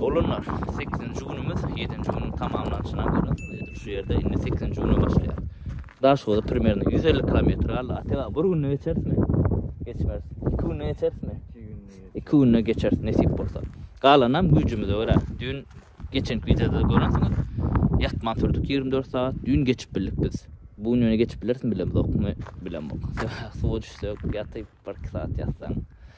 Doganlar, sekizinji günümiz, ýedinji günüň tamamlanyşyna görä, edil şu ýerde indi sekizinji güne başlaýar. Daşoguza primerno ýüz elli kilometr galdy. Atega, bir günde geçerismi? Geçmeris. Iki günde geçerismi? Iki günde geçeris, nesip bolsa. Galanam güýjümize görä. Düýn geçenki wideoda görensiňiz. Ýatman sürdük ýigrimi dört sagat. Düýn geçip bildik biz. Bu gün ýöne geçip bilerismi bilemzok. Bilemok. Suwa düşsek, ýatyp bir iki sagat ýatsaň,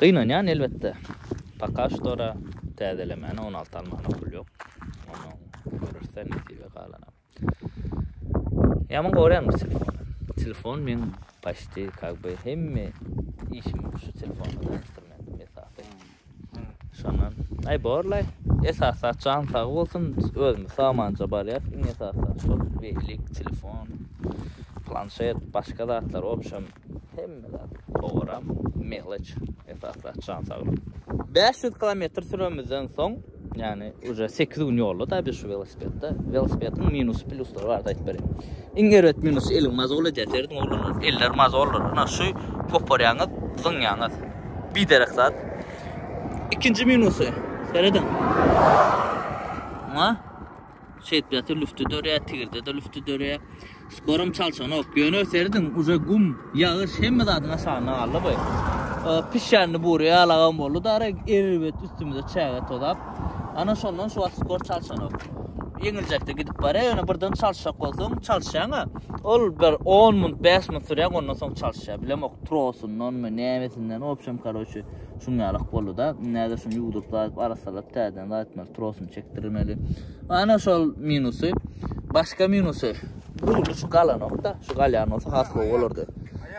Gynanýan elbetde. Paka ştora täzelemäne on alty almana pul ýok. Ondan görürse nesibe galana. Ýaman gorýan bu telefon. Telefon men paşti kak be hemme işim şu telefon bilen instrumentim esasy. Şondan ay borlay esas açan sag bolsun özüm samanja barýar iň esasy şu bellik telefon planşet başga zatlar obşem Hemme zat. Togaram, meleç esasy jan saglyk. 500 kilometr süremizden soň, ýani uje 8 gün ýolda da biz şu welosipedde. Welosipediň minus pluslar bar da aýdyp berin. Iň erbet minus eliň mazol edýär serediň oglanlar. Eller mazollar. Ina şu koparýaňyz, zyňýaňyz. Bir derek zat. Ikinji minusy serediň. Ina. Şeýtdäki lüfti dörýär, tigirdede lüfti dörýär. Skorum çalşanok. Ýöne serediň, uje gum, ýagyş hemme zadyň aşagynda galdy bu. Pişändi buri alagam boldy da, erbet üstümize çäge tozap. Ana şondan şu wagt skor çalşanok. Ýeňiljekde gidip barýar, ýöne birden çalşak bolsaň, çalşýaň-a. Ol bir 10 minut, 5 minut sürýär, ondan soň çalşýar. Bilemok, trosundanmy, nämesinden, obşem, karoçi. şunýalak boldy-da. Indi häzir şuny ýuwduryp zaýyp arassalap täzeden zaýytmaly, trosuny çekdirmeli. Ana şol minusy. Başga minusy. Dugly şu galanok-da, şu galýan bolsa has gowy bolardy.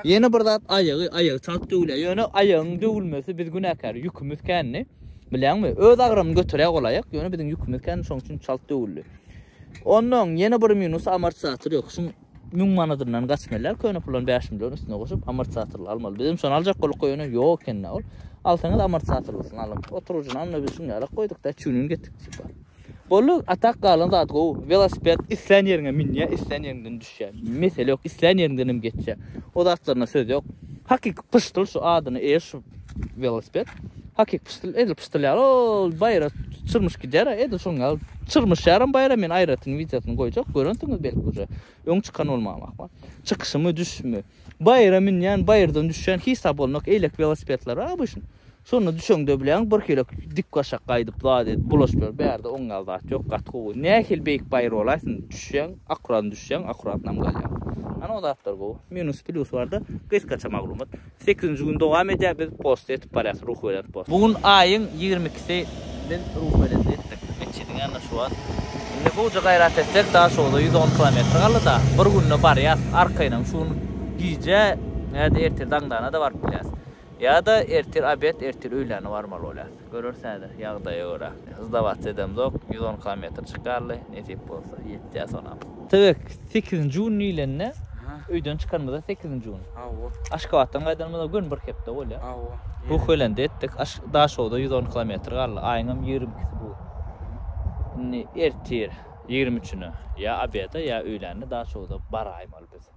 Ýene bir zat aýagy, aýagy çalt döwülýär. Ýöne aýagyň döwülmesi biz günäkär, ýükümiz kändi. Bilýäňmi? Öz agramyny göterýär ol aýak, ýöne biziň ýükümiz kändi, şonuň üçin çalt döwüldi. Onnoň ýene bir minusy amortizator ýok. Şuň Müň manadyndan gaçmeliler köne pulan bäş million üstüne goşup amortizatorly almaly bizem şony aljak bolduk goy ony yok ekenda ol alsaňyz amortizatorlysyny alyň oturujyny alma biz şuny alak goydukda çünin getdik süper boldu atak galan zat go velosiped islän yeriňe minýä islän yeriňden düşýä mesele yok islän yeriňden hem geçýä o zatlaryna söz yok hakyky pyşdyl şu adyny eýer şu Welosiped. Hakyky pyşdyl, edil pyşdyl ýaly ol baýra çyrmyş gider, edil şoň ýaly çyrmyş ýaram baýra men aýratyn wideosyny goýjak, görensiňiz belki uje. Öň çykan bolmam ahmal. Çykyşymy, düşüşimi. Baýra münýän, baýrdan düşýän hiç zat bolmajak, eýlek welosipedler bar obuşn. Şonda düşeňde bileň bir hilek dik başak gaýdyp zat edip bulaşyp ýör. Bärde oň ýaly zat ýok, gaty gowy. Nähili beýik baýra bolaýsyn, düşýäň, akuratny düşýäň, akuratnam galýaň. Ana o zatlar gowy. Minus, plusy barda, gysgaça maglumat. Sekizinji gün dowam edýär biz post etip barýas ruhubelent post. Bu gün aýyň ýigrimi ikisi biz ruhubelent etdik metjidiň ýanyna şu wagt indi gowja gaýrat etsek daşogza ýüz on kilometr galdyda bir günde barýas arkaýynam şu gün gije ýada ertir daňdana da baryp bilýäs ýada ertir obed ertir öýlände barmaly bolýas. Göreris häzir, ýagdaýa görä. Sdawats edemzok, ýüz on kilometr çykarly, nesip bolsa, ýetýär sonam. Tüwek, sekizinji gün diýlende, öýden çykanymyzda sekizinji gün. Hawa. Aşgabatdan gaýdanymyza gün bir hepde bolýar. Hawa. Ruhbelende etdik, aş Daşogza ýüz on kilometr galdy, aýyňam ýigrimi ikisi bu gün. Indi ertir, ýigrimi üçüne, ýa obeda, ýa öýlände Daşogza baraýmaly biz.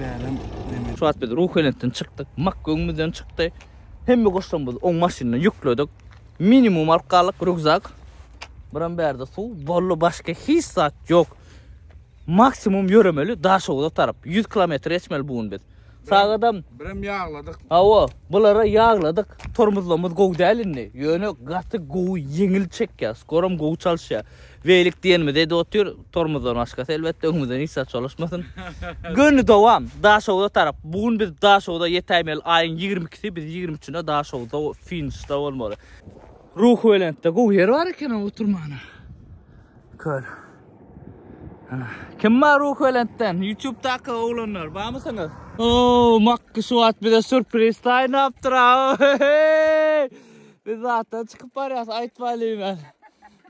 bärem zemen. Şu wagt biz Ruhbelentden çykdyk, Mak göwnümizden çykdy. Hemme goşlarymyzy oň maşynyna ýükledik. Minimum alyp galdyk rukzak. Biram bärde suw, bolly başga hiç zat ýok. Maksimum ýöremeli Daşoguza tarap. 100 kilometr geçmeli bu gün biz. Sagadam Biram ýagladyk. Hawa, bulara ýagladyk. Tormuzlarymyz gowy däl indi. Ýöne gaty gowy ýeňil çekýär. Skoram gowy çalyşýar. Beýlik diýenimiz edi otyr, tormozdan başgasy elbetde öňümizden hiç zat çolaşmasyn. Göni dowam Daşogza tarap. Bu gün biz Daşogza ýetäýmeli aýyň ýigrimi ikisi biz ýigrimi üçünde Daşogzda finişde bolmaly. Ruhubelentde gowy ýer bar ekeni oturmana. Köl. Kim bar Ruhubelentden? Ýutubdaky oglanlar barmysyňyz? Oo, Makky şu wagt bize sürpriz taýynlapdyr. Biz zatdan çykyp barýas, aýtmaýlyň.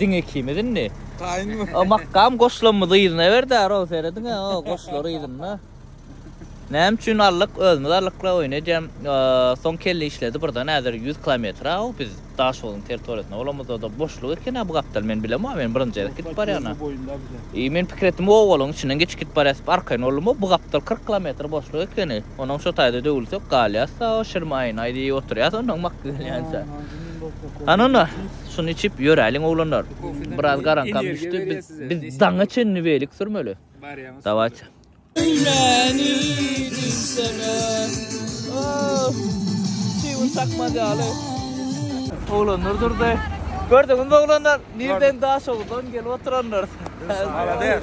Diň ikimiz indi. Taýynmy? O makam goşlamyzy yzyna berdi, row serediň, o goşlary yzynda. Näme üçin allyk? Özümiz allykla oýun edýän. Soň kelle işledi birden häzir 100 kilometr o biz Daşoguzyň territoriýasynda bolamyzda da boşluk eken bu gapdal men bilem o men birinji gezek gidip barýan. E men pikir etdim o owalyň içinden geçip gidip barýas arkaýyn boldum bu gapdal 40 kilometr boşluk ekeni. Onuň şu taýda döwülsek galýas o şirmaýyn aýdyp oturýas ondan mak gelýänçä. Anana, şuny içip ýöräliň oglanlar. Biraz garaňkam düşdi, biz daňa çenli welik sürmeli. Dawaýt. Öýläni diýsene. Oh! Çybyr çakmaz ýaly. Oglanlar durdy. Gördüňizmi oglanlar, nirden Daşoguzdan gelip oturanlar. Malades.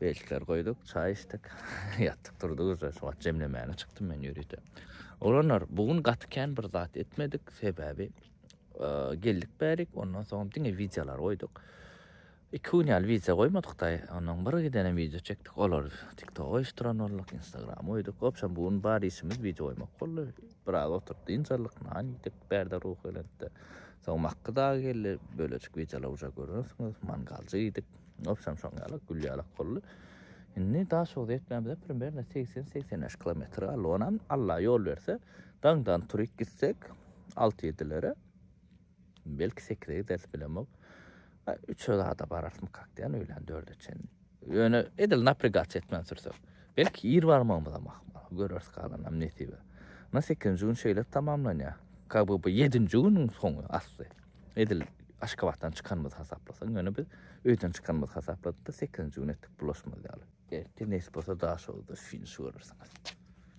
Beltleri goýduk, çaý içdik. Ýatdyk turdyk uje. Şu wagt jemlemäne çykdym men ýörite. Oglanlar, bu gün gaty kän bir zat etmedik. Sebäbi geldik bärik, ondan soň diňe wideolar goýduk. Iki gün ýaly wideo goýmadyk-da, ondan bir gidene wideo çekdik. Olar TikTok goýuşdyran bolduk, Instagram goýduk. Hopşam bu gün bar işimiz wideo goýmak boldy. Biraz oturyp dynç aldyk, nan iýdik, bärde ruhubelentde. Soň Makky dagy geldi, bölejik wideolar uja görersiňiz, mangaljy iýdik. Obşam şoň ýaly gül ýalak boldy. Indi Daşoguz etmämize primerne 80-85 kilometr galdy. Onam Allah ýol berse, daňdan turyp gitsek 6-7-lere belki 8-e gideris bilemok. 3-e zada bararsmy kakdiýan öýlän 4-e çen. Ýöne edil naprigaç etmän sürsek. Belki ir barmagymyz hem ahmal. Göreris galanam nesibe. Na 8-nji gün şeýle tamamlanýar. Kaby bu 7-nji günüň soňy asly. Edil Aşgabatdan çykanymyzy hasaplasaň, ýöne biz öýden çykanymyzy hasapladyk-da, sekizinji gün etdik bulaşmaz ýaly. Ertir nesip bolsa Daşoguzda finiş görersiňiz.